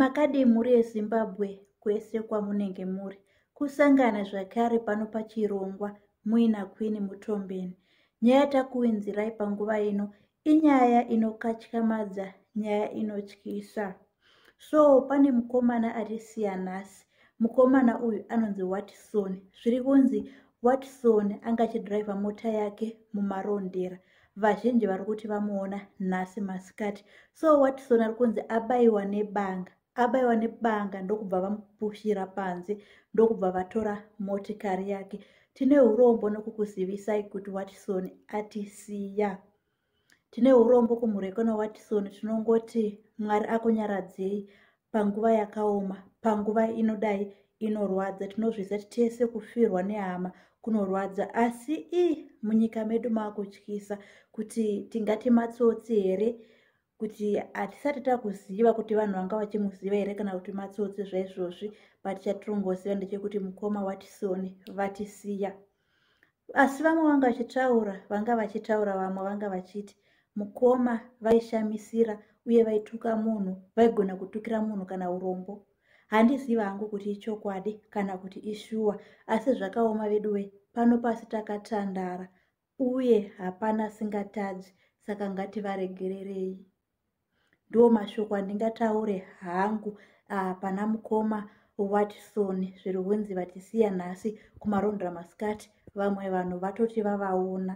makadii mhuri yezimbabwe kwese kwamunenge muri kusangana zvakare pano pachirongwa muina kwini mutombeni nyaya takuinzirai panguva ino inyaya inokatyamadza nyaya inotyisa so pane mukomana ari siyanasi mukomana uyu anonzi watson zviri kunzi watson anga achidhiraivha mota yake mumarondera vazhinji vari kuti vamuona nhasi masikati so watson ari kunzi abaiwa nebanga abaiwa nebanga ndokubva vamupushira panze ndokubva vatora motikari yake tine urombo nokukuzivisai kuti watson atisiya tine urombo kumurekona watisoni tinongoti mwari akunyaradzei panguva yakaoma panguva inodai inorwadza tinozviziva kuti tese kufirwa nehama kunorwadza asi i munyika medu maakutyisa kuti tingati matsotsi here kuti hatisati takuziva kuti vanhu vanga vachimuziva here kana kuti matsotsi zvaizvozvi but chatirongoziva ndechekuti mukoma watisoni vatisiya asi vamwe vanga vachitaura vanga vachitaura vamwe vanga vachiti mukoma vaishamisira uye vaituka munhu vaigona kutukira munhu kana urombo handiziva hangu kuti ichokwadi kana kuti ishuwa asi zvakaoma veduwe pano pasi takatandara uye hapana singatadzi saka ngativaregererei ndiwo mashoko andingataure hangu uh, pana mukoma watson zviri kunzi vatisiya nhasi kumarondra masikati vamwe vanhu vatoti vavaona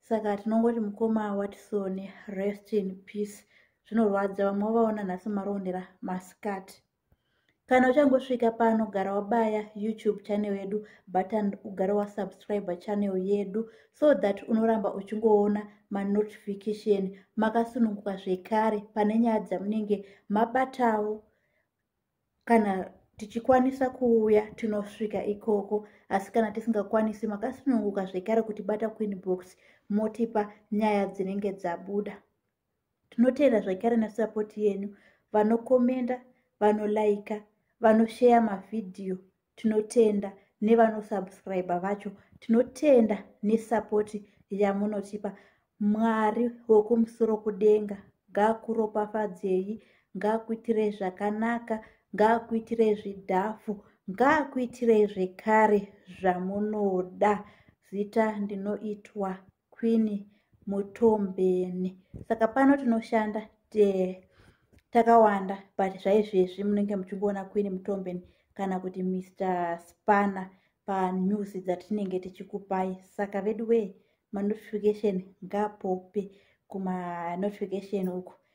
saka tinongoti mukoma watson rest in peace zvinorwadza vamwe vavaona nhasi marondera masikati kana uchangosvika pano gara wabaya youtube channel yedu button ugara wasubscribe channel yedu so that unoramba uchingoona manotification makasununguka zvekare pane nyaya dzamunenge mabatawo kana tichikwanisa kuuya tinosvika ikoko asi kana tisingakwanisi makasununguka zvekare kuti bata queen box motipa nyaya dzinenge dzabuda tinoteera zvakare nesapoti yenyu vanokomenda vanolaika vanosheya mavhidhiyo tinotenda nevanosubscribe vacho tinotenda nesapoti yamunotipa mwari wokumusoro kudenga ngaakuropafadzei ngaakuitirei zvakanaka ngaakuitirei zvidhafu ngaakuitirei zvekare zvamunoda zita ndinoitwa queen mutombeni saka pano tinoshanda te takawanda but zvaizvezvi munenge muchingoona queen mutombeni kana kuti mr spanner panews dzatinenge tichikupai saka veduwee manotification ngapope kumanotification uku